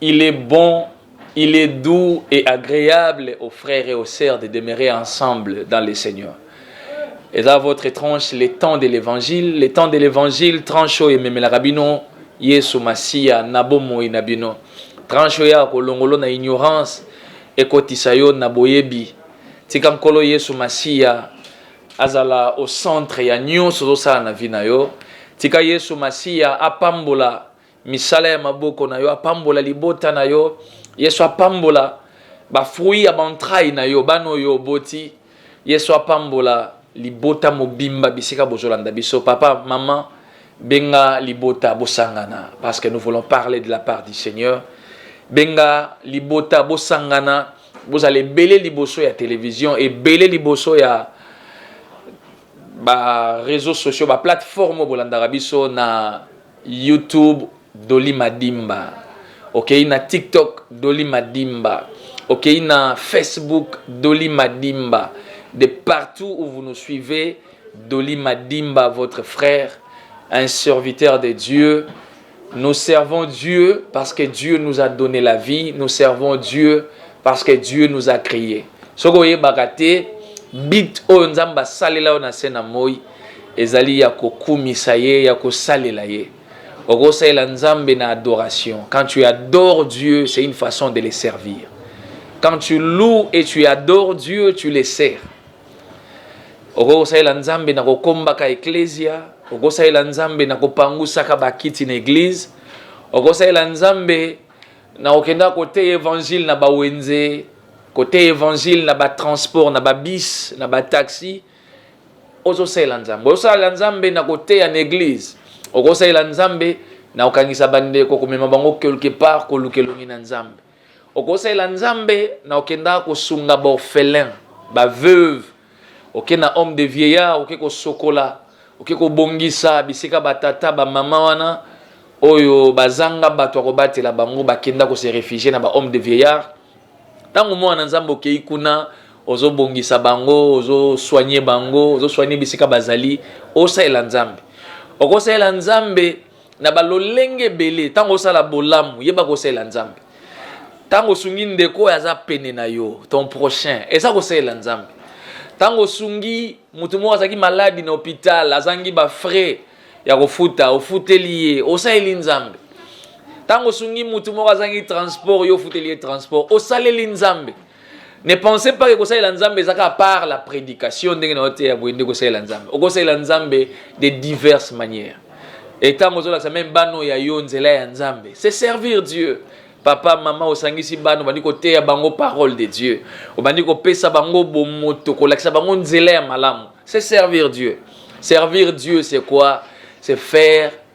Il est bon, il est doux et agreable aux frères et aux sœurs de demeurer ensemble dans le Seigneur. Et là, votre tranche, les temps de l'évangile, les temps de l'évangile, tranche oyo ememelaka bino Yesu Masiya na bomoi na bino. Tranche oyo ya kolongolo na ignorance ekotisa yo na boyebi. Tika Nkolo Yesu Masiya azala au centre ya nyonso ozosala na vie na yo. Tika Yesu Masiya apambola Misala ya maboko na yo apambola libota na yo. Yesu apambola ba fruits ya bantraille na yo, bana oyo oboti. Yesu apambola libota mobimba bisika bozolanda biso. Papa, maman, benga libota bosangana parce que nous voulons parler de la part du Seigneur. Benga libota bosangana, bozala ebele liboso ya television, ebele liboso ya Ba reseaux sociaux, ba plateformes oyo bolandaka biso na YouTube Dolly Madimba, okei na TikTok Dolly Madimba, okei na Facebook Dolly Madimba, de partout où vous nous suivez, Dolly Madimba, votre frère, un serviteur de Dieu, Nous servons Dieu parce que Dieu nous a donne la vie, nous servons Dieu parce que Dieu nous a cree. Soki oyebaka te but oyo Nzambe asalela yo na se na moi ezali ya kokumisa ye, ya kosalela ye. Okosalela Nzambe na adoration. Quand tu adores Dieu, c'est une façon de le servir. Quand tu loues et tu adores Dieu, tu le sers. Okoki kosalela Nzambe na kokombaka eklezia, okosalela Nzambe na kopangusaka bakiti na eglize, okosalela Nzambe na kokenda koteya evangile na bawenze, koteya evangile na batransport, na babis, na bataxi. Ozosalela Nzambe, ozosalela Nzambe na koteya na eglize, okosalela Nzambe na kokangisa bandeko, komema bango quelque part, koluka elongi na Nzambe. okosalela nzambe na okendaka kosunga baorphelin baveuve oke na homme de vieillard oke kosokola oke kobongisa bisika batata bamama wana oyo bazanga bato ya kobatela bango bakenda kose refugie na bahomme de vieillard ntango mwana na nzambe okei kuna ozobongisa bango ozosoigne bango ozosoigne bisika bazali osalela nzambe okosalela nzambe na balolenge ebele ntango osala bolamu yeba kosalela nzambe ntango osungi ndeko oyo aza pene na yo ton prochain eza kosalela nzambe ntango osungi moto moko azalaki maladi na hopital azangi bafrais ya kofuta ofuteli ye osaleli nzambe ntango osungi moto moko azangi transport yo ofuteli ye transport osaleli nzambe Ne pensez pas que kosalela Nzambe eza kaka par la prédication ndenge na oteya boye nde kosalela Nzambe. Okosalela Nzambe de diverses manières. Et ntango ozolakisa meme bana oyo ya yo nzela ya Nzambe, c'est servir Dieu. Papa, mama, osangisi bana, obandi koteya bango parole de Dieu. Obandi kopesa bango bomoto, kolakisa bango nzela ya malamu. C'est servir Dieu. Servir Dieu, c'est quoi? C'est faire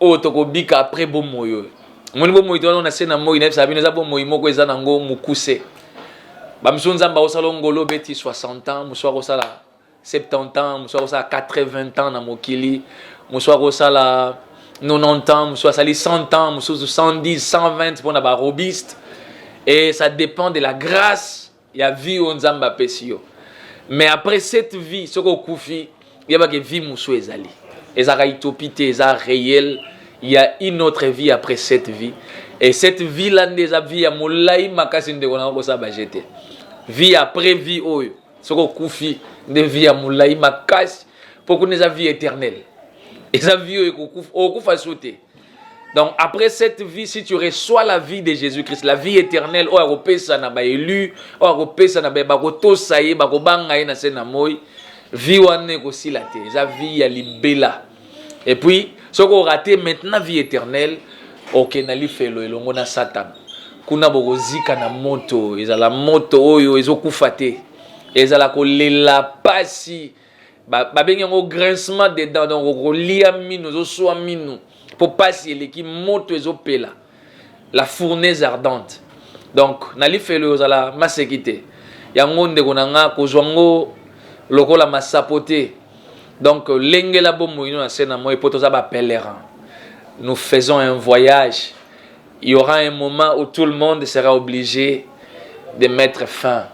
oyo tokobika après bomoi oyo omoni bomoi towana na se na moi nayebisaka bino eza bomoi moko eza nango mokuse bamisusu nzambe akosala ongolo obeti 60 ans mosusu akosala 70 ans mosusu akosala 80 ans na mokili mosusu akosala 90 ans mosusu asali 100 ans mosusu 110 120 mpo na barobiste et ça dépend de la grâce ya vie oyo nzambe apesi yo mais après cette vie soki okufi yeba ke vie mosusu ezali ezalaka utopie te eza réel ya une autre vie après cette vie et cette vie la nde eza vie ya molai makasi ndeko nanga kosala baje te vie après vie oyo soki okufi nde vie ya molai makasi mpo kuna eza vie éternelle eza vie oyo okokufa so te Donc après cette vie, si tu reçois la vie de Jésus-Christ, la vie éternelle, oyo akopesa na ba élu, oyo akopesa na ba bakotosa ye, bakobanga ye na se na moi, vie wana ekosila te, eza vie ya libela. Et puis, soki orate maintenant vie éternelle, oke na lifelo elongo na Satan. Kuna bokozika na moto, ezala moto oyo ezokufa te, ezala kolela pasi, babengi yango grincement de dents donc okolia minu ozoswa minu mpo mpasi eleki moto ezopela la fournaise ardente donc na lifelo oyo ozala maseki te yango ndeko na nga kozwa ngo lokola masapo te donc lengela bomoi no na se na moi mpo toza ba pèlerin nous faisons un voyage il y aura un moment où tout le monde sera obligé de mettre fin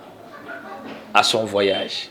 à son voyage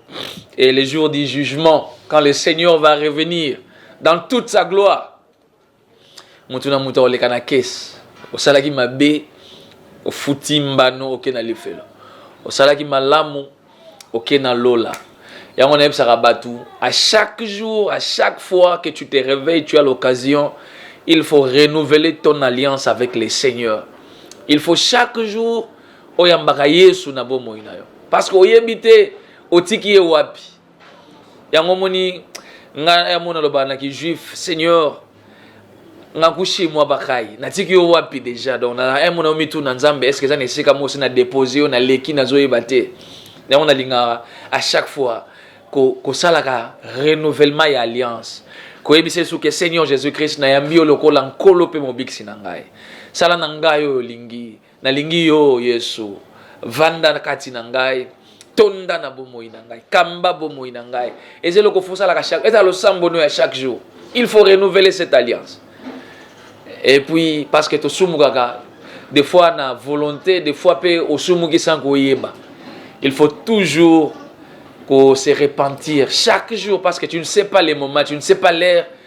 Et le jour du jugement, quand le Seigneur va revenir dans toute sa gloire, mutu na mutu akoleka na kesi. Osalaki mabe, ofuti mbano, oke na lifelo. Osalaki malamu, oke na lola. yango nayebisaka bato à chaque jour à chaque fois que tu te réveilles tu as l'occasion il faut renouveler ton alliance avec le seigneur il faut chaque jour Oyambaka Yesu na bomoi na yo parce que oyebi te otiki ye wapi. Yango omoni nga ya mona loba na ki juif Seigneur nga kushi mwa bakai natiki yo wapi deja donc na un mona omitu na Nzambe est-ce que eza na esika mosi na dépose yo na leki nazoyeba te yango nalingaka à chaque fois kosalaka renouvellement ya alliance koyebisa yesu ke seigneur jésus christ nayambi yo lokola nkolo mpe mobikisi na ngai sala na ngai oyo olingi Nalingi yo Yesu, vanda kati na ngai, tonda na bomoi na ngai, kamba bomoi na ngai. Eza eloko fosalaka chaque, eza losambo no ya chaque jour. Il faut renouveler cette alliance. Et puis parce que tosumukaka des fois na volonté, des fois pe osumuki sans koyeba. Il faut toujours qu'on se repentir chaque jour parce que tu ne sais pas les moments, tu ne sais pas l'heure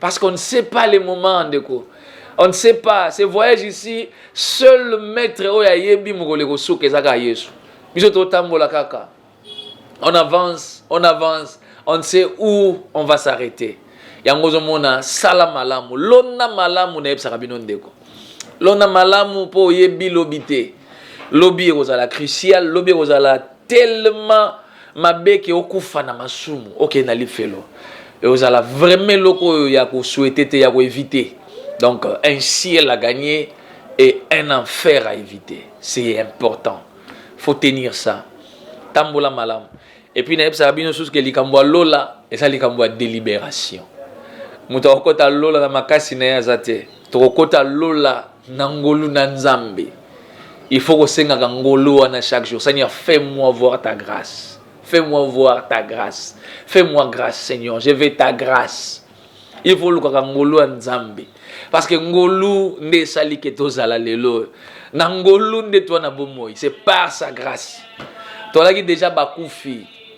Parce qu'on ne sait pas les moments, ndeko. On ne sait pas. Ce voyage ici, seul maître oyo ayebi mokolo ekosuka ezaka Yesu. Biso totambola kaka. On avance, on avance, on ne sait où on va s'arrêter. Yango ozomona sala malamu, lona malamu nayebisaka bino ndeko. Lona malamu mpo oyebi lobi te. Lobi ekozala crucial, lobi ekozala tellement Mabeke okufa na masumu okende na lifelo ekozala vraiment eloko oyo ya ko souhaiter te ya ko eviter donc un ciel à gagner et un enfer à eviter c'est important faut tenir ça tambola malamu et puis nayebisaka bino susu ke likambo ya lola eza likambo ya deliberation moto akokota lola na makasi na ye aza te tokokota lola na ngolu na nzambe il faut kosengaka ngolu wana chaque jour seigneur fait moi voir ta grâce fait moi voir ta grâce fait moi grâce seigneur je vais ta grâce il faut olukaka ngolu ya nzambe parce que ngolu nde esali ke tozala lelo oyo na ngolu nde twana bomoi c'est par sa grâce tozalaki deja bakufi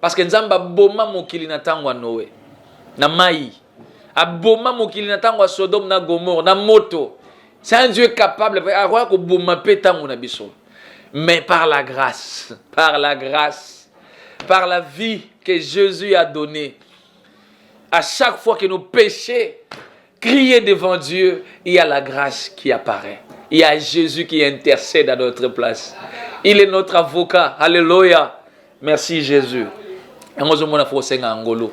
Parce que Nzambe aboma mokili na tango ya Noe na mayi, aboma mokili na tango ya Sodome na Gomorre na moto. C'est un Dieu capable, akoya koboma mpe tango na biso. Mais par la grâce, par la grâce, par la vie que Jésus a donnée, à chaque fois que nos péchés Crier devant Dieu, il y a la grâce qui apparaît. Il y a Jésus qui intercède à notre place. Il est notre avocat. Alléluia. Merci Jésus. yango ozomona fo kosenga ya ngolu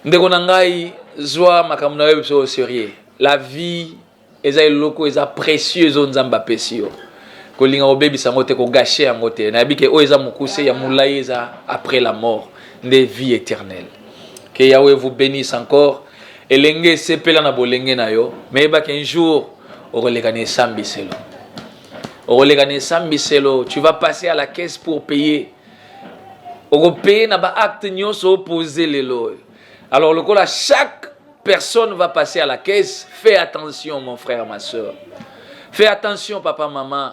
ndeko na ngai zwa makambo na yo biso au sérieux la vie eza eloko eza précieux ezo nzambe apesi yo kolinga kobebisa yango te kogashe yango te nayebi ke oyo eza mokuse ya molai eza après la mort nde vie éternelle que yahweh vous bénisse encore Elenge sepela na bolenge na yo, mais yeba qu'un jour okoleka na esambiselo. Okoleka na esambiselo, tu vas passer à la caisse pour payer. Okopaye na ba acte nyonso opose lelo oyo. Alors lokola chaque personne va passer à la caisse, fais attention mon frère, ma soeur. Fais attention papa, maman.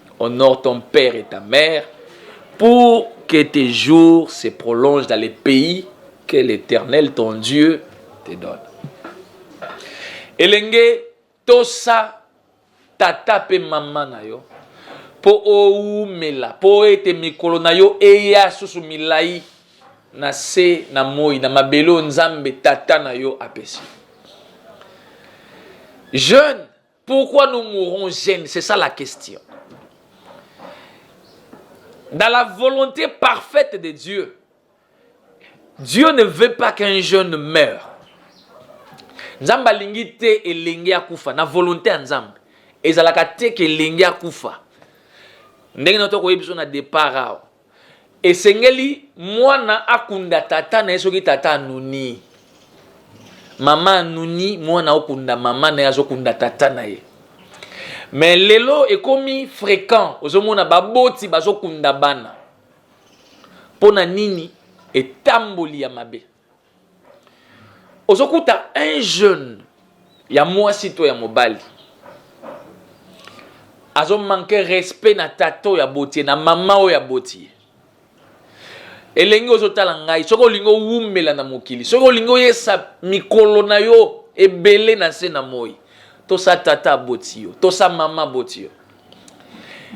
Honore ton père et ta mère pour que tes jours se prolongent dans les pays que l'Eternel ton Dieu te donne. Elenge tosa tata pe mama na yo po oumela po ete mikolo na yo eya susu milai na se na moi na mabele oyo nzambe tata na yo apesi jeune Pourquoi nous mourons jeunes C'est ça la question. Dans la volonté parfaite de Dieu, Dieu ne veut pas qu'un jeune meure. Nzambe alingi te elenge akufa na volonté ya Nzambe. Ezalaka te ke elenge akufa. Ndenge na to koyebi biso na départ awa. Esengeli mwana akunda tata na ye soki tata anuni. Mama anuni, mwana okunda mama na ye azokunda tata na ye. Mais lelo ekomi fréquent, ozomona baboti bazokunda bana. Pona nini? Etamboli ya mabe. ozokuta un jeune ya mwasi to ya mobali azomanke respect na tata oyo aboti ye na mama oyo aboti ye elengi ozotala ngai soki olingi owumela na mokili soki olingi oyesa mikolo na yo ebele na se na moi tosa tata aboti yo tosa mama aboti yo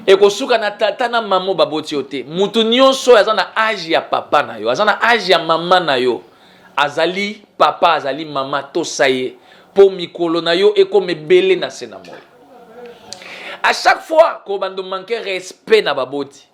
ekosuka na tata na mama oyo baboti yo te moto nyonso oyo aza na age ya papa na yo aza na age ya mama na yo azali papa azali mama tosa ye mpo mikolo na yo ekoma ebele na se na moi a chaque fois ko bando manke respect na baboti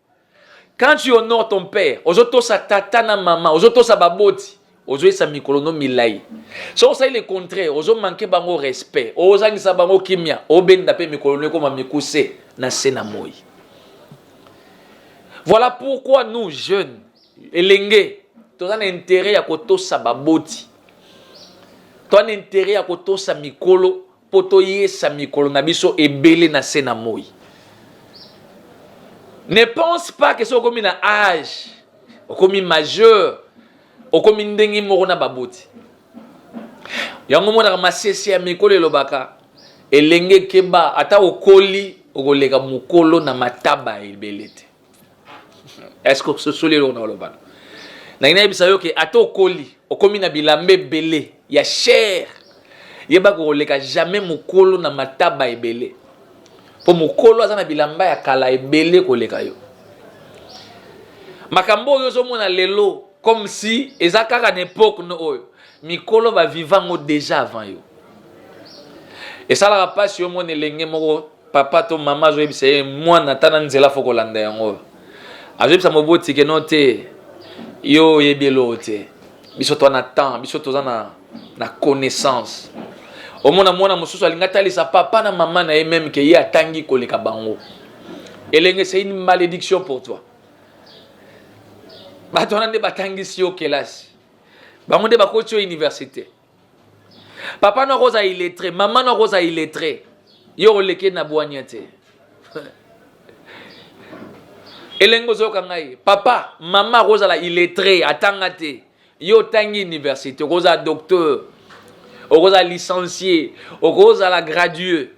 Quand tu honores ton père, ozotosa tata na mama, ozotosa baboti, ozoyesa mikolo no milai. Soki osali le contraire, ozo manke bango respect, ozangisa bango kimia, obenda pe mikolo no ekoma mikuse na se na moi. Voilà pourquoi nous jeunes, elenge, toza na intérêt ya kotosa baboti, toza na intérêt ya kotosa mikolo Mpo toyesa mikolo na biso ebele na se na moi. Ne pense pas que soki okomi na age, okomi majeur, okomi ndenge moko na baboti. Yango monaka masese ya mikolo elobaka elenge keba ata okoli okoleka mokolo na mataba ebele te. eske ososoli eloko na olobana nangi nayebisa yo ke ata okoli okomi na bilamba ebele ya chere yeba kokoleka jamais mokolo na mataba ebele mpo mokolo aza na bilamba ya kala ebele koleka yo makambo oyo ozomona lelo comme si eza kaka na epoke no oyo mikolo baviva yango deja avant yo esalaka mpasi yo mona elenge moko papa to mama azoyebisa ye mwana ata na nzela fo kolanda yango oyo azoyebisa moboti ke no te yo oyebi eloko te biso toa na temps biso toza na, na connaissance omona mwana mosusu alingi atalisa papa na mama na ye meme ke ye atangi koleka bango elenge c'est une malédiction pour toi bato wana nde batangisi yo kelasi bango nde bakoti yo université papa noko oza iletre mama noko oza iletre yo oleke na bwania te elenge ozoyoka ngai papa mama akozala iletre atanga te yo otangi université okozala docteur okozala licencie okozala gradué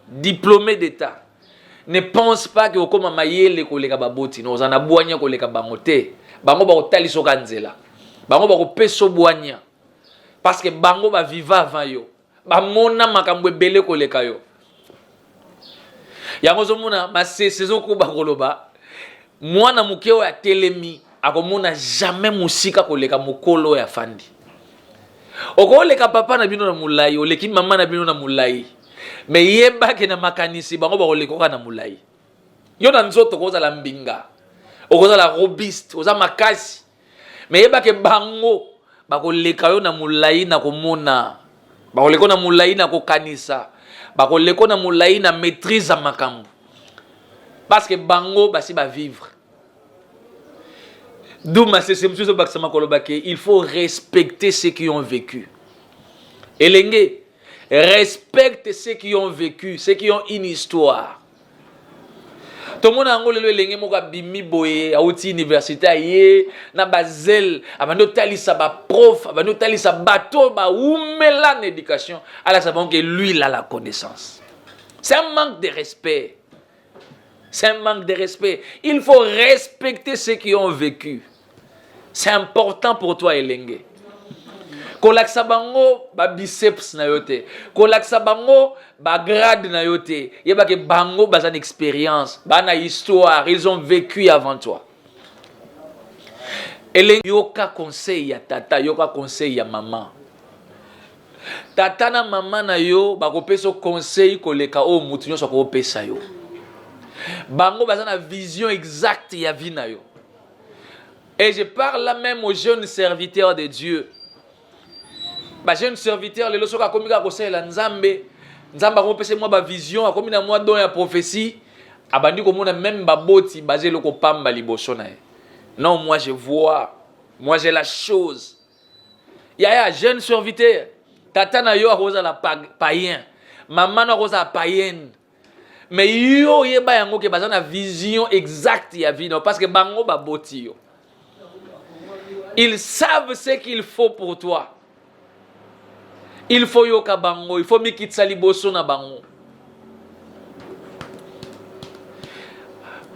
diplômé d'état ne pense pas ke okoma mayele koleka baboti no oza na bwania koleka bango te bango bakotalisoka nzela bango bakopesa bwania parce que bango ba viva avant yo bamona makambo ebele koleka yo yango ozomona masese ezokoba koloba mwana moke oyo atelemi akomona jamais mosika koleka mokolo oyo afandi okoleka papa na bino na molai oleki mama na bino na molai me yebake na makanisi bango bakolekoka na molai yo na nzoto okozala mbinga okozala robiste oza makasi me yeba ke bango bakoleka yo na molai na komona bakoleko na molai na kokanisa bakoleko na molai na maîtrise ya makambo parce que bango basi bavivre d'où masese mosusu ezobakisa makolo bake il faut respecter ceux qui ont vécu elenge respecte ceux qui ont vécu ceux qui ont une histoire tomona yango lelo elenge moko abimi boye auti université aye na bazele abandi otalisa baprof abandi otalisa bato oyo baumela na éducation alakisa bango ke lui la la connaissance c'est un manque de respect c'est un manque de respect il faut respecter ceux qui ont vécu c'est important pour toi elenge kolakisa bango ba biceps na yo te kolakisa bango ba grade na yo te yebake bango baza na expérience baa na histoire ils ont vécu avant toi elengi yoka conseil ya tata yoka conseil ya mama tata na mama na yo bakopesa yo conseil koleka oyo motu nyonso akopesa yo bango baza na vision exacte ya vie na yo Et je parle là même aux jeunes serviteurs de Dieu. Ba jeunes serviteurs lelo soki akomi kaka kosalela Nzambe, Nzambe akomopesa mwa ba vision, akomi na mwa don ya prophétie, abandi komona même baboti baza eloko pamba liboso na ye. Non, moi je vois, moi j'ai la chose. Yaya, jeune serviteur, tata na yo akozala païen, mama na akozala païenne. mais yo oyeba yango ke baza na vision exacte ya vie no parce que bango baboti yo ils savent ce qu'il faut pour toi il faut yoka bango il faut mikitisa liboso na bango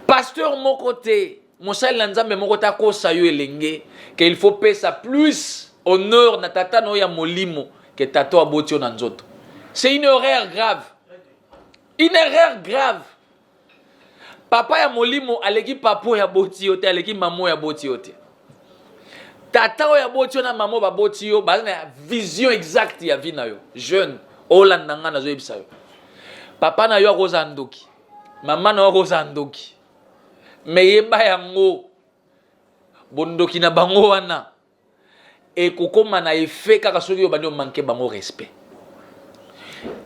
pasteur moko te Mosali na Nzambe moko te akosa yo elenge ke il faut pesa plus honneur na tata no ya molimo ke tata aboti yo na nzoto. C'est une erreur grave. Une erreur grave. Papa ya molimo aleki papa oyo aboti yo te, aleki mama oyo aboti yo te. Tata oyo aboti yo na mama oyo baboti yo baza na vision exacte ya vie na yo. Jeune, olanda ngai nazoyebisa yo. Papa na yo akozala ndoki, mama na yo akozala ndoki. me yeba yango bondoki na bango wana ekokoma na efe kaka soki yo bandi omanke bango respect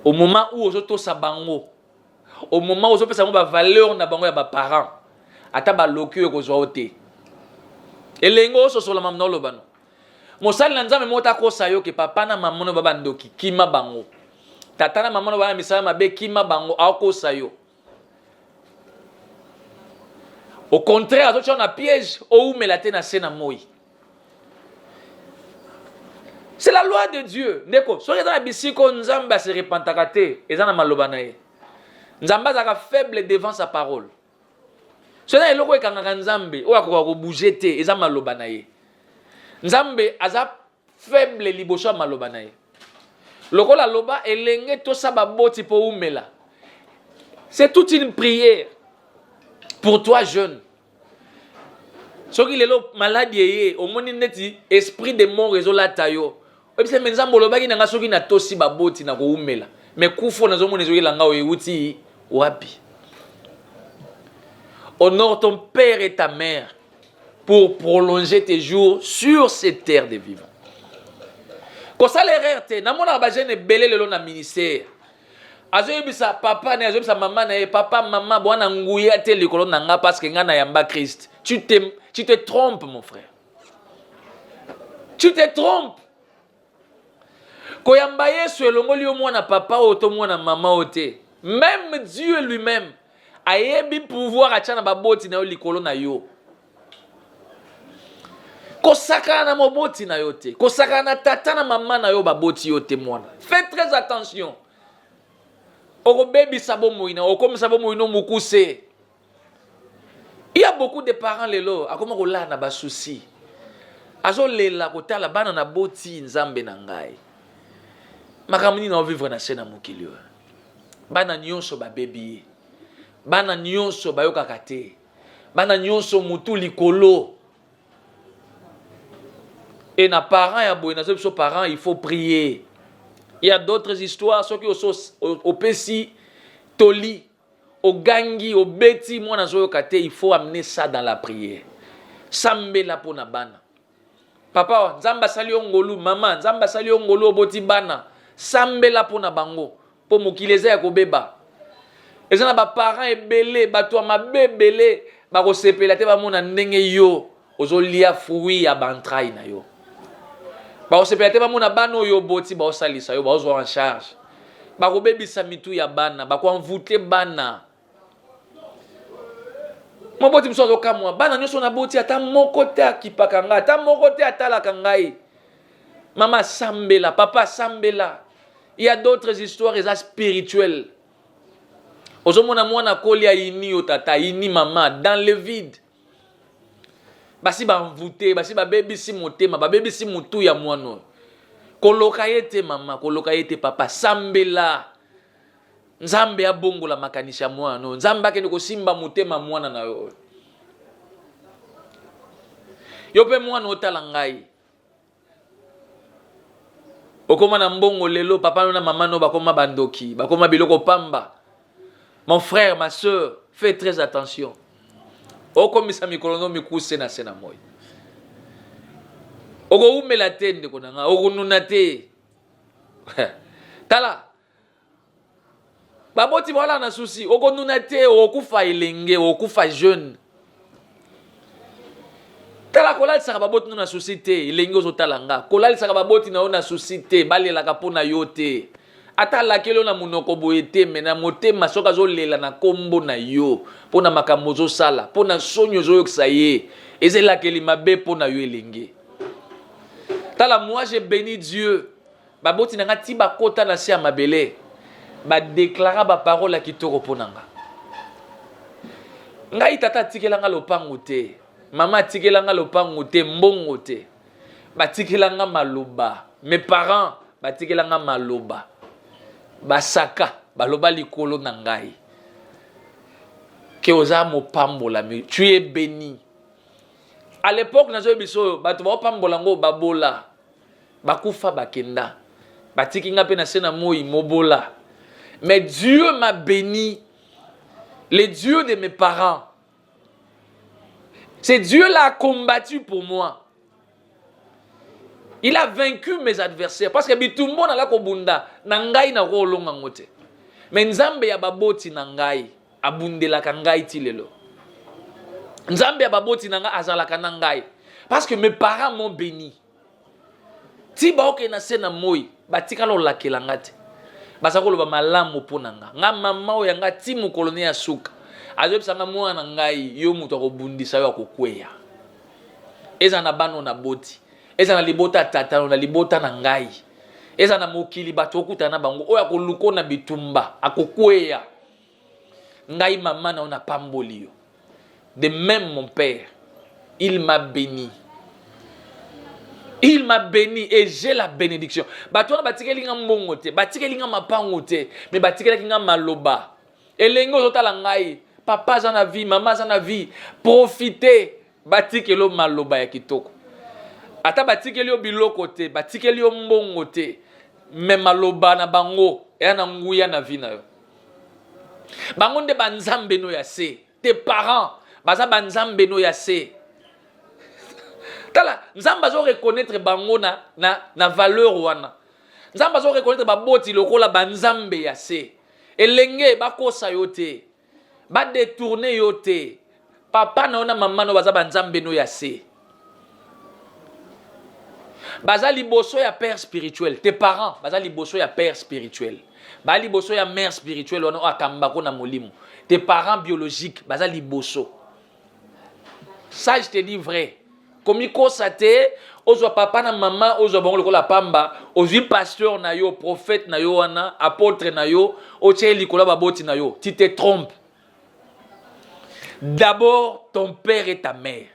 au moment où ozotosa bango au moment ozopesa bango bavaleur na bango ya baparent ata baloki oyo ekozwa yo te elenge ososola mamna oloba no mosali na nzambe moko takosa yo ke papa na mama no babandoki kima bango tata na mama no bana misala mabe kima bango akosa yo au contraire azotia na piège oumela te na se na moi c'est la loi de dieu ndeko soki eza na bisika oyo nzambe ase repentaka te eza na maloba na ye nzambe azalaka faible devant sa parole soki eza eloko ekangaka nzambe oyo akoka kobouge te eza maloba na ye nzambe aza faible liboso ya maloba na ye lokola loba elenge tosa baboti mpo umela c'est toute une prière pour toi jeune soki lelo maladi eye omoni neti esprit de mort ezolata yo oyebisa me nzambe olobaki na ngai soki natosi baboti na koumela me kufo nazomona ezoyela ngai oyo euti wapi honore ton père et ta mère pour prolonger tes jours sur cette terre de vivant kosala erreur te namonaka bajeune ebele lelo na ministère azoyebisa papa na ye azoyebisa mama na ye papa mama bwana nguya te likolo na nga parce que nga na yamba christ tu te, tu te trompe mon frère tu te trompe Koyamba Yesu elongoli yo mwana papa oyo to mwana mama oyo te. Meme Dieu lui-meme ayebi pouvoir atya na baboti na yo likolo na yo. Kosakana na moboti na yo te, kosakana na tata na mama na yo baboti yo te mwana. Fais très attention. Okobebisa bomoi na okomisa bomoi no mokuse. Il y a beaucoup de parents lelo akoma kolala na ba soucis. Azolela kotala bana na boti nzambe na ngai. Makambo nini na vivre na se na mokili oyo. Bana nyonso babebi ye. Bana nyonso bayokaka te. Bana nyonso mutu likolo. Et na parents ya boye nazo biso parents il faut prier. Il y a d'autres histoires soki oso opesi toli ogangi obeti mwana azoyoka te il faut amener ça dans la prière sambela mpo na bana papa nzambe asali yo ngolu mama nzambe asali yo ngolu oboti bana sambela mpo na bango mpo mokili eza ya kobeba eza na baparent ebele bato ya mabe ebele bakosepela te bamona ndenge yo ozolia fruit ya ba entraille na yo bakosepela te bamona bana oyo oboti baosalisa yo baozwa en charge bakobebisa mitu ya bana bakoenvoute bana moboti mosusu azokamwa bana nyonso naboti ata moko te akipaka ngai ata moko te atalaka ngai mama asambela papa asambela ya d'autres histoires eza spirituel ozomona mwana akoli ayini yo tata ayini mama dans le vide basi banvute basi babebisi motema babebisi motu ya mwana oyo koloka ye te mama koloka ye te papa sambela nzambe abongola makanisi ya mwana oyo nzambe akende kosimba motema mwana na yo oyo yo mpe mwana otala ngai okoma na mbongo lelo papa no na mama no bakoma bandoki bakoma biloko pamba mon frère ma soeur fait très attention okomisa mikolo no mikuse na se na moi okoumela te ndeko na nga okonuna te tala baboti bawala na susi okonuna te okufa elenge okufa jeune tala kolalisaka baboti no na susi te elenge ozotala nga kolalisaka baboti na yo na susi te balelaka mpo na yo te ata alakeli yo na monoko boye te me na motema soki azolela na nkombo na yo mpo na makambo ozosala mpo na soni ozoyokisa ye eza elakeli mabe mpo na yo elenge tala moi je béni dieu Baboti na nga ti bakota na se ya mabele badeklara baparole ya kitoko mpo na nga. Ngai tata atikela nga lopango te, mama atikela nga lopango te, mbongo te, batikela nga maloba. Mes parents batikela nga maloba, basaka baloba likolo na ngai ke oza mopambolami, tu es beni. À l'époque nazoyebisa oyo bato baopambola yango babola bakufa bakenda batiki nga mpe na se na moi mobola mais dieu m'a béni le dieu de mes parents c'est dieu là a combattu pour moi il a vaincu mes adversaires parce que bitumbo nala kobunda na ngai nakoki kolonga yango te mais nzambe ya baboti na ngai abundelaka ngai ti lelo nzambe ya baboti na ngai azalaka na ngai parce que mes parents m'ont béni ti baokende na se na moi batikala olakela nga te baza koloba malamu mpo na nga nga mama oyo ya nga ti mokolo ne ya suka azoyebisa nga mwana na ngai yo moto akobundisa yo akokweya ezala na bana oyo naboti ezala na libota ya tatano na libota na ngai ezala na mokili bato okutana na bango oyo akoluko na bitumba akokweya ngai mama na yo napamboli yo de même mon père il m'a béni il m'a béni et j'ai la bénédiction bato wana batikeli nga mbongo te batikeli nga mapango te mais batikelaki nga maloba elenge ozotala ngai papa aza na vie mama aza na vie profite batikeli yo maloba ya kitoko ata batikeli yo biloko te batikeli yo mbongo te me maloba na bango eya na nguya na vie na yo bango nde banzambe no ya se te parents baza banzambe no ya se tala nzambe azo reconnaître bango na, na, na valeur wana nzambe azo reconnaître baboti lokola banzambe ya se elenge bakosa yo te badetourne yo te papa na yo na mama na yo baza banzambe no ya se baza liboso ya père spirituel te parents baza liboso ya père spirituel baa liboso ya mère spirituel wana oyo akambako na molimo te parents biologique baza liboso ça je te dis vrai komikosa te ozwa papa na mama ozwa bango lokola pamba ozwi pasteur na yo prophète na yo wana apôtre na yo otye likolo ya baboti na yo ti te trompe D'abord ton père et ta mère.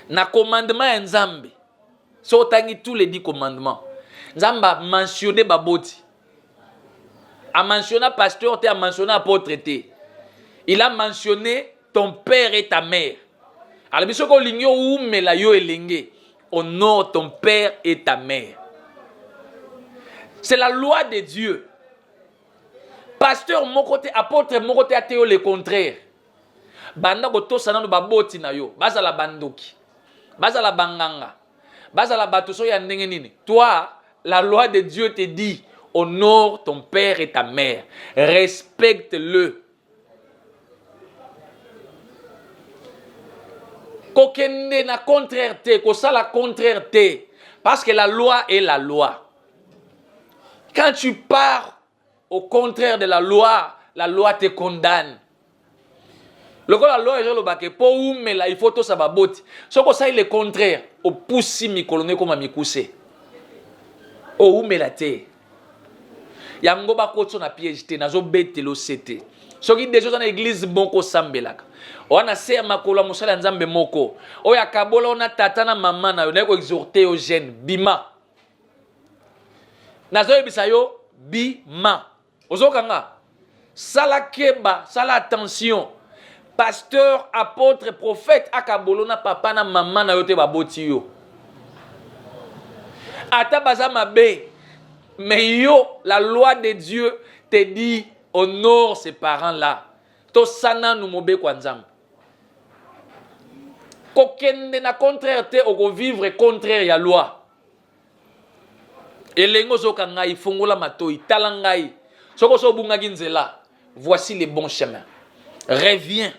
Na commandement ya Nzambe. So otangi tous les dix commandements. Nzambe a mentionné baboti. A mentionné pasteur te, a mentionné apôtre te. Il a mentionné ton père et ta mère. Alors biso ko lingio umela yo elenge. Honore ton père et ta mère. C'est la loi de Dieu. pasteur moko te apotre moko te ateyo le contraire banda kotosa nano baboti na yo bazala bandoki bazala banganga bazala bato so ya ndenge nini toi la loi de dieu te dit honore ton père et ta mère respecte le kokende na contraire te kosala contraire te parce que la loi est la loi quand tu pars au contraire de la loi la loi te condamne lokola loi ezoloba ke mpo umela il faut tosa baboti soki osali le contraire opusi mikolo no ekoma mikuse oumela te yango bakotso na piège te nazobetela osete soki deja oza na eglize moko osambelaka oya na se ya makolo ya mosala ya nzambe moko oyo akabola ona tata na mama na yo naye koexorte yo jeune bima nazoyebisa yo bima ozoka nga sala keba sala attention pasteur apôtre prophète akabolo na papa na mama na yo te baboti yo ata baza mabe mais yo la loi de dieu te dit honore ses parents là tosa nanu mobeko ya nzambe kokende na contraire te okovivre contraire ya loi Elenge ozoka ngai, fongola matoyi, tala ngai. Soko so obungaki nzela, voici le bon chemin. Reviens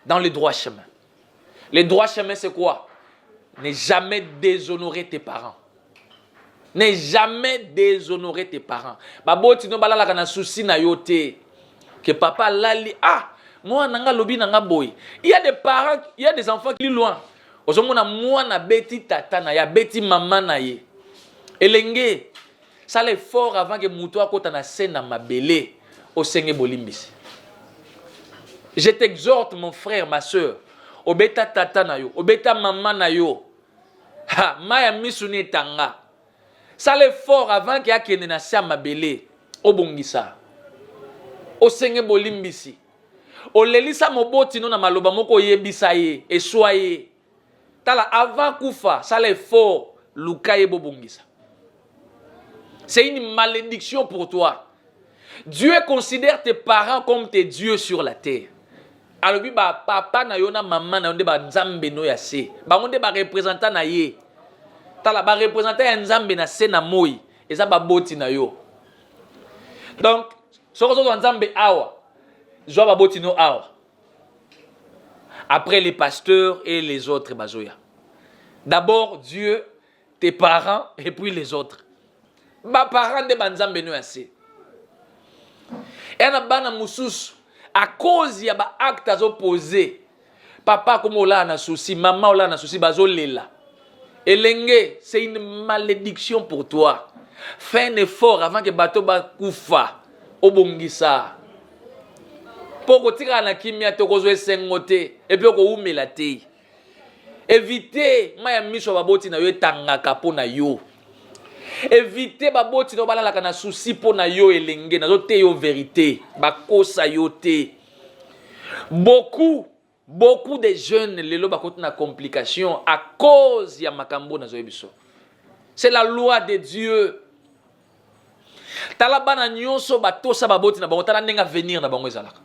dans le droit chemin. Le droit chemin c'est quoi? Ne jamais déshonorer tes parents. Ne jamais déshonorer tes parents. Baboti no balalaka na souci na yo te. Que papa lali ah moi nanga lobi nanga boy. Il y a des parents, il y a des enfants qui loin. ozomona mwana abeti tata na ye abeti mama na ye elenge sala effort avant ke moto akota na se na mabele osenge bolimbisi je t'exhorte mon frère ma soeur obeta tata na yo obeta mama na yo ha mai ya misu ni etanga sala effort avant ke akende na se ya mabele obongisa osenge bolimbisi olelisa moboti no na maloba moko oyebisa ye eswa ye tala avant kufa sala effort luka ye bobongisa c'est une malédiction pour toi dieu considère tes parents comme tes dieux sur la terre alobi bapapa na yo na mama na yo nde banzambe no ya se bango nde barepresentant na ye tala barepresentant ya nzambe na se na moi eza baboti na yo donc soki ozozwa nzambe awa zwa baboti no awa après les pasteurs et les autres bazoya d'abord dieu tes parents et puis les autres baparent nde banzambe no ya se ena bana mosusu à cause ya baacte azopoze papa akomi olala na souci mama olala na souci bazolela elenge c'est une malédiction pour toi fais un effort avant ke bato bakufa obongisa mpo okotikala na kimia te okozwa esengo te epuis okowumela te evite mai ya miso ya baboti na yo etangaka mpo na yo evite baboti na yo balalaka na susi mpo na yo elenge nazoteya yo verite bakosa yo te beaucoup beaucoup de jeunes lelo bakoti na complication à cause ya makambo nazoye biso c'est la loi de dieu tala bana nyonso batosa baboti na bango tala ndenge avenir na bango ezalaka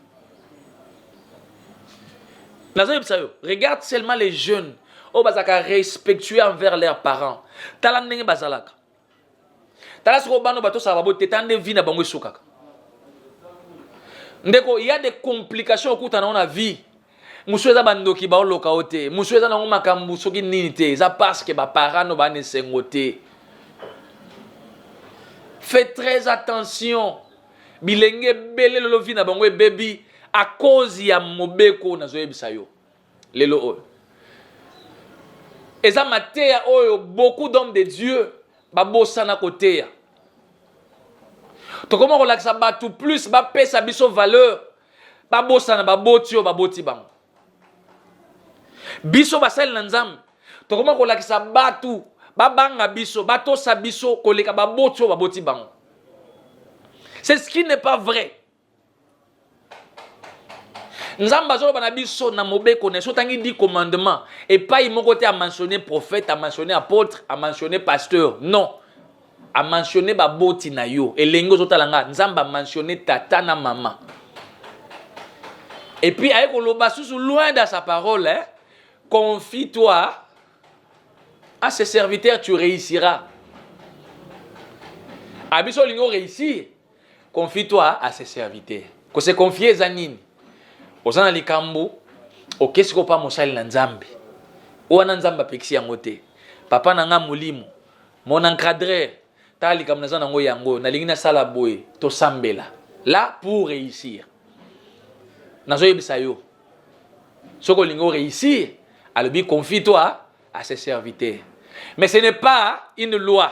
nazoyebisa yo regarde seulement les jeunes oyo bazalaka respectueux envers leurs parents tala ndenge bazalaka tala soko bano batosaka babo te tande vie na bango esukaka ndeko ya de complication okutana ngo na vie mosusu eza bandoki baoloka yo te mosusu eza nango makambo soki nini te eza parceke baparent no baana esengo te fait très attention bilenge ebele lolovi na bango ebebi akozi ya mobeko nazoyebisa yo Lelo oyo eza mateya oyo beaucoup d'hommes de Dieu babosana koteya. Tokoma kolakisa bato plus bapesa biso valeur, babosana baboti oyo baboti bango. Biso basali na Nzambe tokoma kolakisa bato babanga biso, batosa biso koleka baboti oyo baboti bango. C'est ce qui n'est pas vrai. nzambe azoloba na biso na mobeko na ye so tangi di commandement epai moko te amentionne prophète amentionne apôtre amentionne pasteur non amentionne baboti na yo elenge ozotala nga nzambe amentionne tata na mama epuis aye koloba susu loin dans sa parole hein? confie toi à ses serviteurs tu réussiras abiso olingi oréussir Confie-toi à ses serviteurs. Ko se confier eza nini? Oza na likambo okesi ko pa mosali na Nzambe. Wana Nzambe apekisi yango te. Papa na nga molimo, mon encadreur, tala likambo naza nango yango, nalingi nasala boye, tosambela. Là pour réussir. Nazoyebisa yo. Soki olingi o réussir, alobi confie-toi à ses serviteurs. Mais ce n'est pas une loi.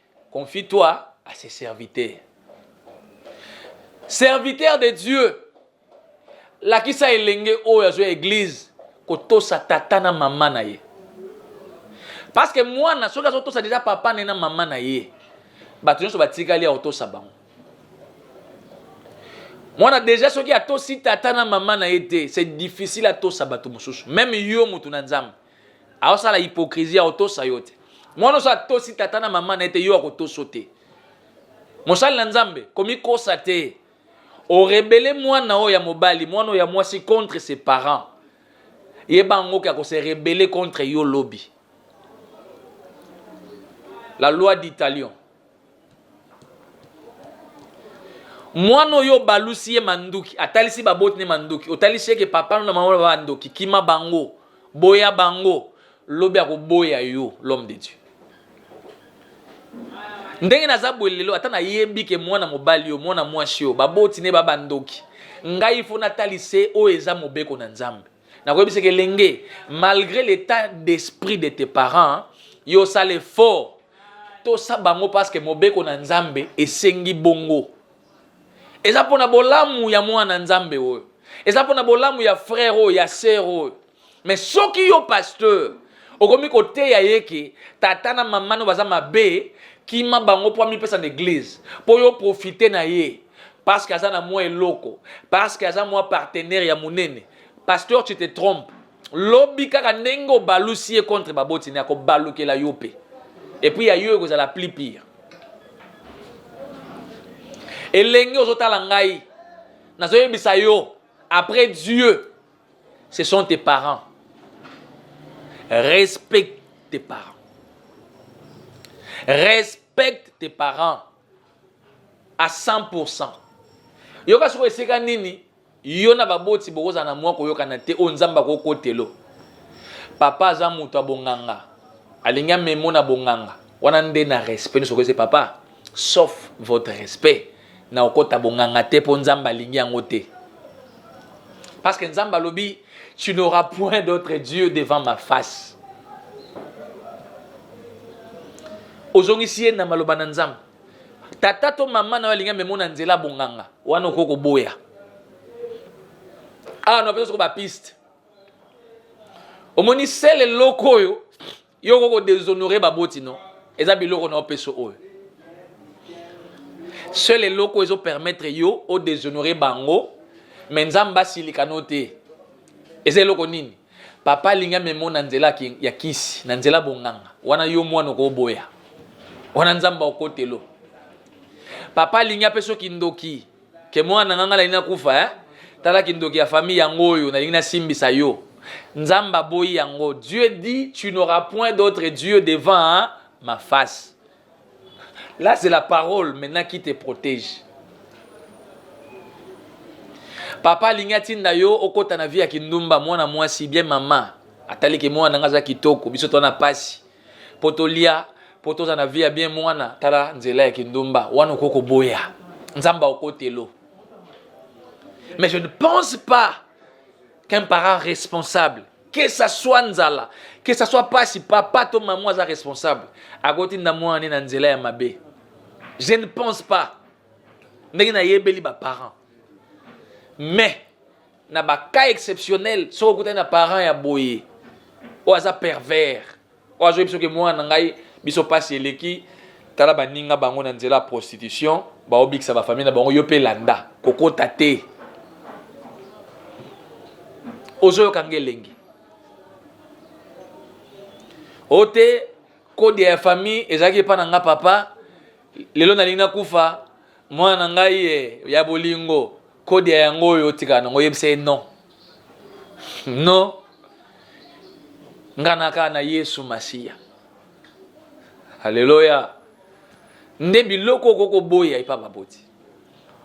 Confie-toi à ses serviteurs. Serviteur de Dieu, lakisa elenge oyo azwa eglize kotosa tata na mama na ye parce que mwana soki azotosa deja papa ne na mama na ye bato nyonso batikali ya kotosa bango mwana deja soki atosi tata na mama na ye te c'est difficile atosa bato mosusu meme yo moto na nzambe aosala hypocrisie akotosa yo te mwana oso atosi tata na mama na ye te yo akotoso te mosali na nzambe komikosa te orebele mwana oyo ya mobali mwana oyo ya mwasi contre ses parents yeba yango ke akose rebele contre yo lobi la loi d'italion Mwana oyo obalusi ye manduki, atalisi baboti ne manduki, otalisi ye ke papa na mama ba ndoki, kima bango, boya bango, lobi akoboya yo l'homme de Dieu. Ndenge naza boye lelo, ata nayebi ke mwana mobali yo, mwana mwasi yo, baboti ne ba bandoki, ngai il faut natalise oyo eza mobeko na Nzambe. nakoyebisa ke lenge malgré l'état d'esprit de tes parents yo osala effort tosa bango parce que mobeko na nzambe esengi bongo eza mpona bolamu ya mwana nzambe oyo eza mpona bolamu ya frère oyo ya sœur oyo mais soki yo pasteur okomi koteya ye ke tata na mama no baza mabe kima bango mpo amipesa na eglize mpo yo profite na ye parceke aza na mwa eloko parceke aza mwa partenaire ya monene pasteur tu te trompe lobi kaka ndenge obalusi ye contre baboti ne akobalukela yo mpe epuis ya yo ekozala plus pire elenge ozotala ngai nazoyebisa yo après dieu Ce sont tes parents. Respecte tes parents. Respecte tes parents à 100%. yoka soko esika nini yo na baboti bokozala na mwa koyokana te oyo nzambe akokotelo papa aza moto ya bonganga alingi amemo na bonganga wana nde na respect nyonso okoyese papa sauf votre respect Na kokota bonganga te po Nzambe alingi yango te. Parce que Nzambe alobi tu n'auras point d'autre Dieu devant ma face. Ozongisi ye na maloba na Nzambe. Tata to mama na yo alingi amemona nzela bonganga. Wana okoki koboya. Awa na pesa soko ba piste. Omoni sele loko oyo Yo ko deshonore ba boti no. Eza biloko na opeso oyo. Seul eloko ezo permettre yo o deshonore bango mais Nzambe asilika no te. Eza eloko nini? Papa alingi amema na nzela ya kisi, na nzela bonganga. Wana yo mwana okoboya. Wana Nzambe okotelo. Papa alingi apeso kindoki. ke mwana nga nga nalingi nakufa eh? tala kindoki ya famille yango oyo nalingi nasimbisa yo nzambe aboyi yango dieu dit tu n'auras point d'autre dieu devant hein? ma face là c'est la parole maintenant qui te protège papa alingi atinda yo okota na vie ya kindumba mwana mwasi bien mama ataliki mwana nga aza kitoko biso twana pasi po tolia po toza na vie ya bien mwana tala nzela ya kindumba wana okoki koboya nzambe akotelo mais je ne pense pas qu'un parent responsable que ça soit nzala que ça soit pasi papa to maman aza responsable akotinda mwana ne na nzela ya mabe je ne pense pas ndenge nayebeli baparent mais na ba cas exceptionnel soki okutani na parent ya boye oyo aza pervers oyo azoyebi soki mwana na ngai biso mpasi eleki tala baninga bango na nzela ya prostitution baobikisa bafamille na bango yo mpe landa kokota te ozoyoka nge elengi o te kode ya famille ezalaki epai na nga papa lelo nalingi nakufa mwana na ngai eh, ya bolingo kode ya yango oyo otikala nango oyebisa ye non non nga naka na yesu masiya aleloya nde biloko okoki koboya epa baboti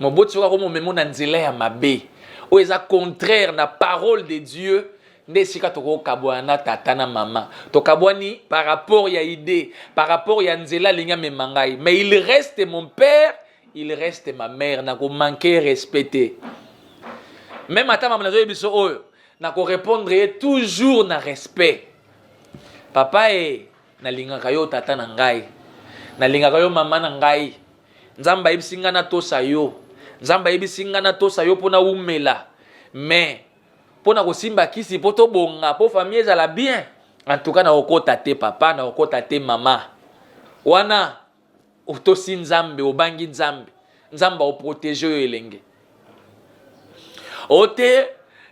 moboti soki akomomemo na nzela ya mabe oyo eza contraire na parole de dieu nde esika tokokabwana na tata na mama tokabwani par rapport ya idee par rapport ya nzela alingi amema ngai mais il reste mon père il reste ma mère na ko manquer respect te meme ata mama nazoyebi biso oyo na ko répondre ye toujours na respect papa e nalingaka yo tata na ngai nalingaka yo mama na ngai nzambe ayebisi ngai natosa yo nzambe ayebisi ngai natosa yo mpo nawumela mais mpo na kosimba kisi mpo tobonga mpo famille ezala bien en tout cas nakokota te papa nakokota te mama wana otosi nzambe obangi nzambe nzambe aoprotege yo elenge ote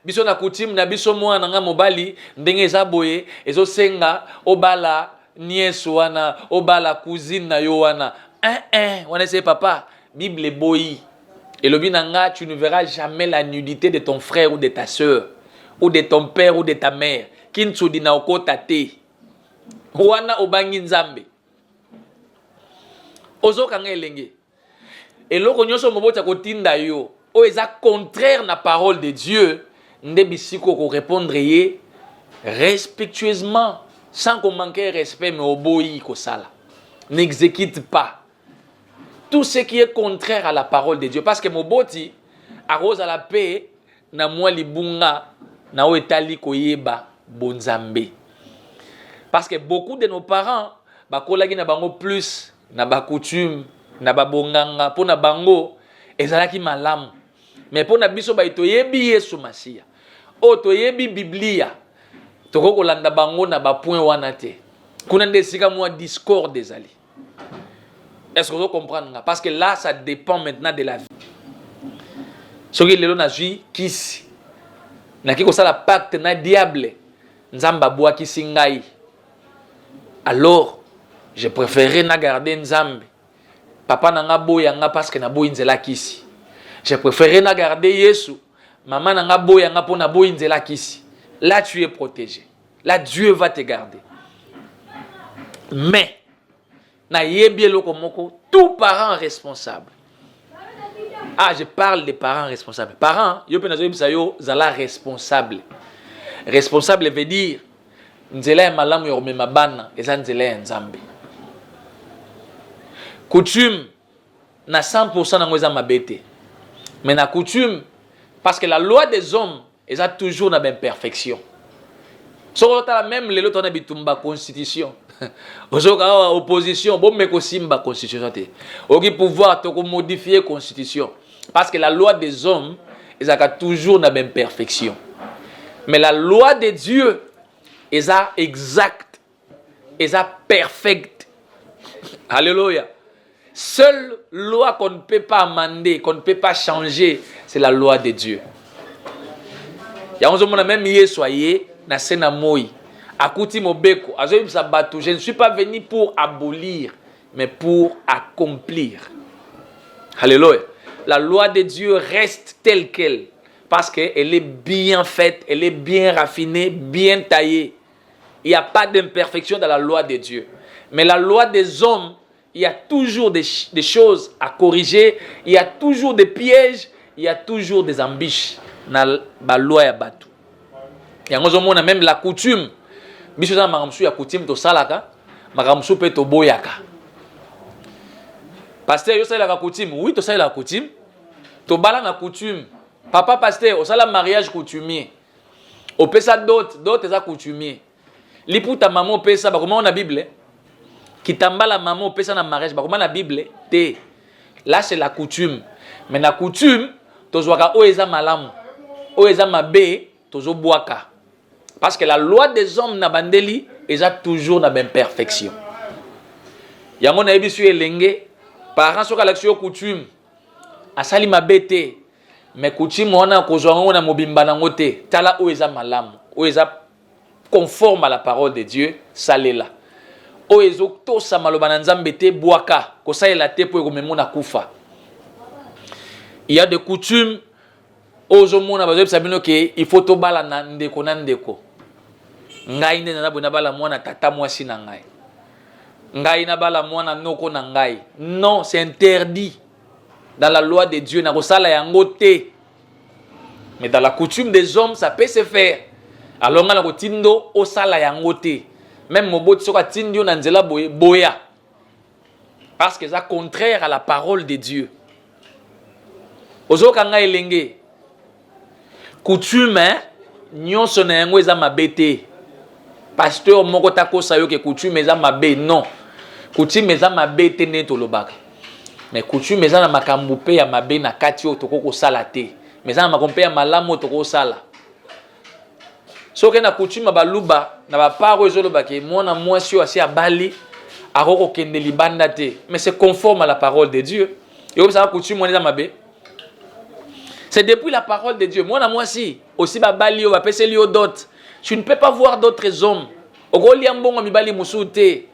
biso na coutume na biso mwana na ngai mobali ndenge eza boye ezosenga obala niese wana obala cousine na yo wana eh, eh, wana ese papa bible eboyi elobi na ngai tu ne verras jamais la nudité de ton frère ou de ta soeur ou de ton père ou de ta mère kinsudi na okota te wana obangi nzambe ozokanga elenge eloko nyonso moboti akotinda yo oyo eza contraire na parole de dieu nde bisika okorepondre ye respectueusement sans komanke respect mais oboyi kosala n'exécute pas tout ce qui est contraire à la parole de dieu parce que moboti akozala mpe na mwa libunga na oyo etali koyeba bonzambe parce que beaucoup de nos parents bakolaki na bango plus na bacoutume na babonganga mpo na bango ezalaki malamu me mpo na biso bai toyebi yesu masiya oyo toyebi biblia tokoki kolanda bango na bapoint wana te kuna nde esika mwa discorde ezali Est-ce que vous comprenez Parce que là, ça dépend maintenant de la vie. Ce qui est le na vie, qui si na qui ça la pacte na diable, nzamba boa qui singai. Alors, je préférais na garder nzambe. Papa na nga boya nga parce que na boyi nzela kisi. Je préférais na garder Yesu. Maman na nga boya nga pour na boyi nzela kisi. Là, tu es protégé. la dieu va te garder mais nayebi eloko moko tout parent responsable ah je parle des parents responsables parents yo mpe nazoyebisa yo zala responsable responsable veut dire nzela ya malamu ya komema bana eza nzela ya nzambe coutume na 100 pourcent nango eza mabe te mais na coutume parce que la loi des hommes eza toujours na baimperfection soki otala meme lelo tona bitumba constitution ozoyoka awa opposition bomeka osimba constitution te oki pouvoir tokomodifie constitution parce que la loi des hommes ezalaka toujours na baimperfection mais la loi de dieu eza exacte eza perfect alleluia seule loi qu'on ne peut pas amender qu'on ne peut pas changer c'est la loi de dieu yango ozomona meme yesu aye na se na moi akuti mobeko azoyebisa bato je ne suis pas venu pour abolir mais pour accomplir alleluia la loi de dieu reste telle qu'elle parce qu'elle est bien faite elle est bien raffinée bien taillée Il n'y a pas d'imperfection dans la loi de Dieu. Mais la loi des hommes, il y a toujours des, des choses à corriger, il y a toujours des pièges, il y a toujours des ambiches na ba loi ya batu. Yango zo mona même la coutume. Biso za makambo ya coutume to salaka, makambo su pe to boyaka. Pasteur yo salaka coutume, oui to salaka coutume. To bala na coutume. Papa pasteur, osala mariage coutumier. opesa dot dot eza coutumier liputa mama opesa bakomao na bible kitambala mama opesa na mariage bakoma na bible te là c'est la coutume mais na coutume tozwaka oyo eza malamu oyo eza mabe tozobwaka parce que la loi des hommes na bandeli eza toujours na baimperfection yango nayebisi yo elenge parent soki alakisi yo coutume asali mabe te Mais coutume wana kozwa yango na mobimba nango te. Tala oyo eza malamu, oyo eza conforme à la parole de Dieu, salela. Oyo ezotosa maloba na Nzambe te, bwaka. Kosalela te mpo ekomema na kufa. Il y a des coutumes oyo ozomona bazoyebisa bino ke il faut tobalana ndeko na ndeko. Ngai nde naza boye nabala mwana tata mwasi na ngai. Ngai nabala mwana noko na ngai. Non, c'est interdit. dans la loi de Dieu nakosala yango te mais dans la coutume des hommes ça peut se faire alors nga nakotindo osala yango te même moboti soki atindi yo na nzela boye boya parce que eza contraire à la parole de Dieu ozoka ngai elenge Coutume nyonso na yango eza mabe te. Pasteur moko takosa yo ke coutume eza mabe non. Coutume eza mabe te nde tolobaka. Mais coutume eza na makambo mpe ya mabe na kati oyo tokoki kosala te. Mais eza na makambo mpe ya malamu oyo tokoki kosala. Soki na coutume ya baluba na bapart oyo ezoloba ke mwana mwasi oyo asi abali akoki kokende libanda te. Mais c'est conforme à la parole de Dieu. Yo obisaka coutume wana eza mabe. C'est depuis la parole de Dieu. Moi, na moi si, aussi ba balio, ba peselio dot. Tu ne peux pas voir d'autres hommes. Ogolia mbongo mibali musute.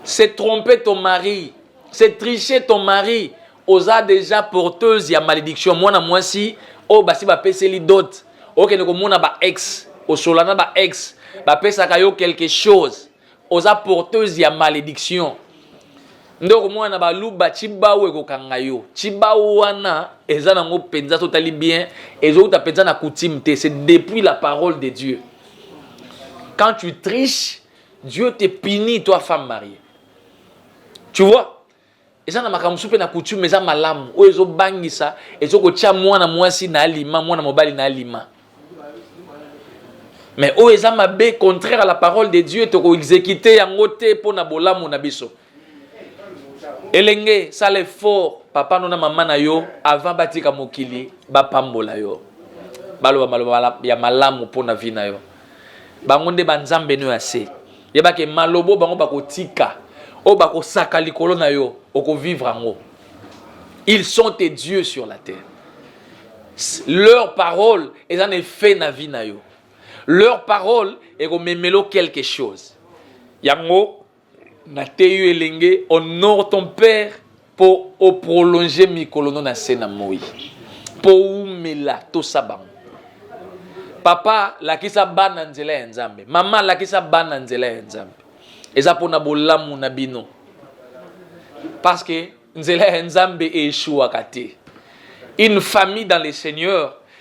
C'est tromper ton mari. C'est tricher ton mari. Oza déjà porteuse ya malédiction. Moi, na moi si, oh, basi ba peseli dot. Ok, ne komona ba ex. Osolana ba ex. Ba pesaka yo quelque chose. oza porteuse ya malediction nde okomona na baluba cibawu ekokanga yo cibawu wana eza nango mpenza totali bien ezowuta mpenza na coutume te c'est depuis la parole de dieu quand tu triche dieu te punit toi femme mariée tu vois eza na makambo mosusu mpe na coutume eza malamu oyo ezobangisa ezokotya mwana mwasi na alima mwana mobali na alima mais oyo eza mabe contraire à la parole de dieu tokoexekite yango te mpo na bolamu na biso elenge sala effort papa no na mama na yo avant batika mokili bapambola yo baloba maloba ya malamu mpo na vi na yo bango nde banzambe no ya se yeba ke malobo bango bakotika oyo bakosaka likolo na yo okovivre yango ils sont tes dieux sur la terre leur parole eza na effet na vie na yo leur parole ekomemelo quelque chose yango nateyi yo elenge honore ton père Mpo o prolonger mikolo no na se na moi, mpo oumela tosa bango. Papa, lakisa bana nzela ya Nzambe. Mama, lakisa bana nzela ya Nzambe. Eza mpo na bolamu na bino. Parce que nzela ya Nzambe eeshuwaka te. Une famille dans le Seigneur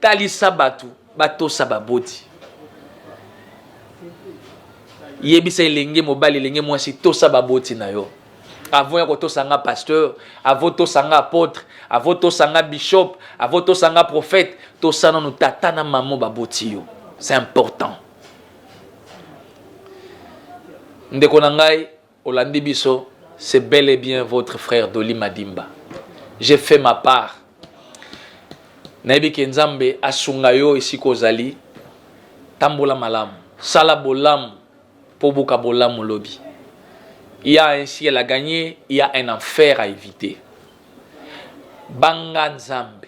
Talisa bato batosa baboti. Yebisa elenge mobali, elenge mwasi, tosa baboti na yo. Avant ya kotosa nga pasteur, avant tosa nga apôtre, avant tosa nga bishop, avant tosa nga prophète, tosa nanu tata na maman baboti yo. C'est important. ndeko na ngai Olandi biso c'est bel et bien votre frère Dolly Madimba j'ai fait ma part nayebi ke Nzambe asunga yo esika ozali tambola malamu sala bolamu po buka bolamu lobi il y a un ciel à gagner il y a un enfer à éviter banga Nzambe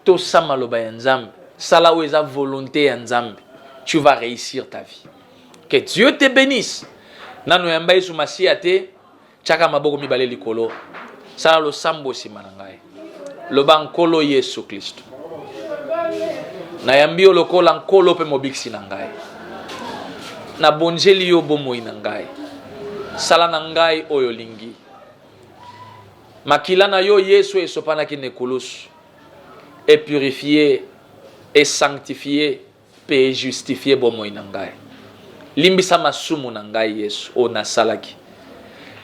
Tosa maloba ya nzambe sala oyo eza volonte ya nzambe tu vas reussir ta vie que Dieu te benisse nano yamba yesu masiya te tiaka maboko mibale likolo sala losambo nsima na ngai loba nkolo yesu klisto nayambi yo lokola nkolo mpe mobikisi na ngai nabonzeli yo bomoi na ngai sala na ngai oyo olingi Makila na yo Yesu oyo esopanaki na ekulusu e purifier, e sanctifier mpe e justifier bomoi na ngai. Limbisa masumu na ngai Yesu oyo nasalaki.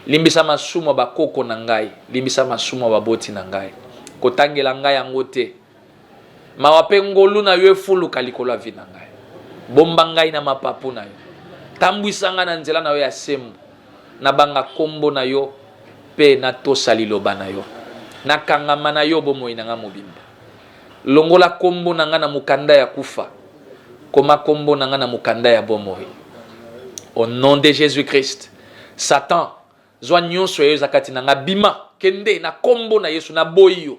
Limbisa masumu ya bakoko na ngai, limbisa masumu ya baboti na ngai. Kotangela ngai yango te. Mawa mpe ngolu na yo efuluka likolo ya vi na ngai. Bomba ngai na mapapu na yo, tambwisa ngai na nzela na yo ya sembo. Nabanga nkombo na yo mpe natosa liloba na yo. Nakangama na yo bomoi na ngai mobimba. Longola nkombo na ngai na mokanda ya kufa, koma nkombo na ngai na mokanda ya bomoi. Au nom de Jésus-Christ, Satan, zwa nyonso ya yo eza kati na ngai, bima, kende na nkombo na Yesu, naboyi yo.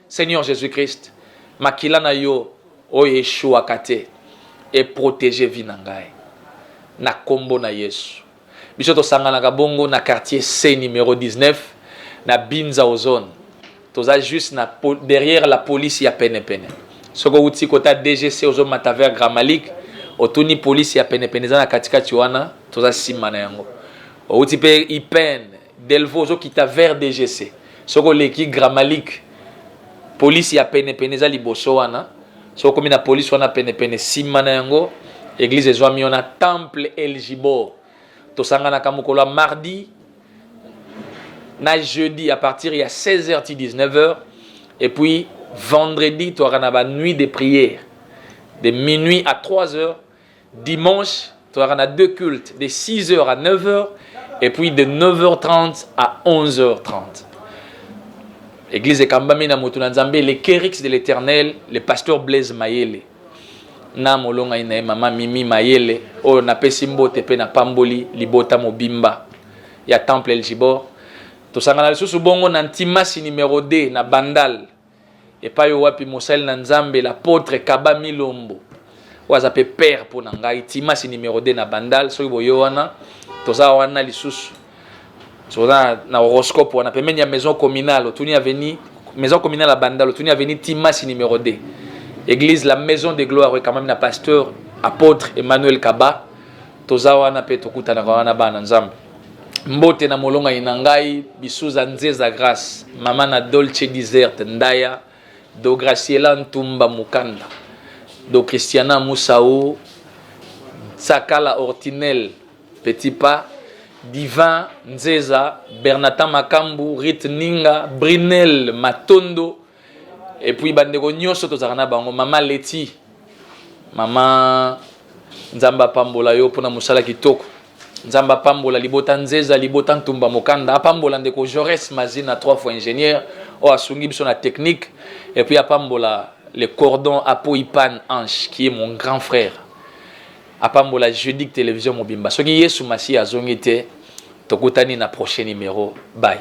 Seigneur Jesus Christ, makila na yo oyo eshuaka te e proteger vie na ngai na kombo na Yesu. Biso tosanganaka bongo na quartier C numero 19 na Binza Ozone. Toza juste na derrière la police ya pene pene. Soko uti kota DGC ozo mata vers Gramalik, otuni police ya pene pene eza na katikati wana, toza sima na yango. Outi pe IPN Delvaux ozo kita vers DGC soki oleki Gramalic police ya pene pene eza liboso wana soki okomi na police wana pene pene sima na yango eglise ezwami wana temple Eljibor tosanganaka mokolo ya mardi na jeudi à partir ya 16h ti 19h et puis vendredi toyaka na ba nuit de prière de minuit à 3h Dimanche, tozalaka na deux cultes de 6h à 9h et puis de 9h30 à 11h30. Église ekambami na moto na Nzambe le Kerix de l'Éternel, le pasteur Blaise Mayele. Na molonga ina ye mama Mimi Mayele oyo napesi mbote pe na pamboli libota mobimba ya Temple El Gibor. Tosangana lisusu bongo na Ntimasi numero 2 na Bandal epai oyo wapi mosali na nzambe l'apotre kaba milombo oyo aza mpe père mpo na ngai timasi numero 2 na bandal soki boyo wana toza wana lisusu toza na horoscope wana pembeni ya maison communale otuni aveni maison communale ya bandal otuni aveni timasi numero 2 église la maison de gloire oyo ekamami na pasteur apôtre emmanuel kaba toza wana mpe tokutanaka wana bana nzambe Mbote na molongani na ngai Bisuza Nzeza Grace, mama na Dolce Desert Ndaya, Do Graciela Ntumba Mukanda, Do Christiana Musau, Sakala Ortinel Petit Pas, Divin Nzeza, Bernatan Makambu, Rit Ninga, Brinel Matondo, Et puis bandeko nyonso tozalaka na bango mama Leti mama Nzambe apambola yo mpona mosala kitoko Nzambe apambola libota Nzeza libota Ntumba Mokanda apambola ndeko Jaurès Mazina trois fois ingénieur oyo asungi biso na technique et puis apambola le cordon Apoipan Ange qui est mon grand frère apambola Jeudi télévision mobimba soki Yesu Masiya azongi te tokutani na prochain numéro bye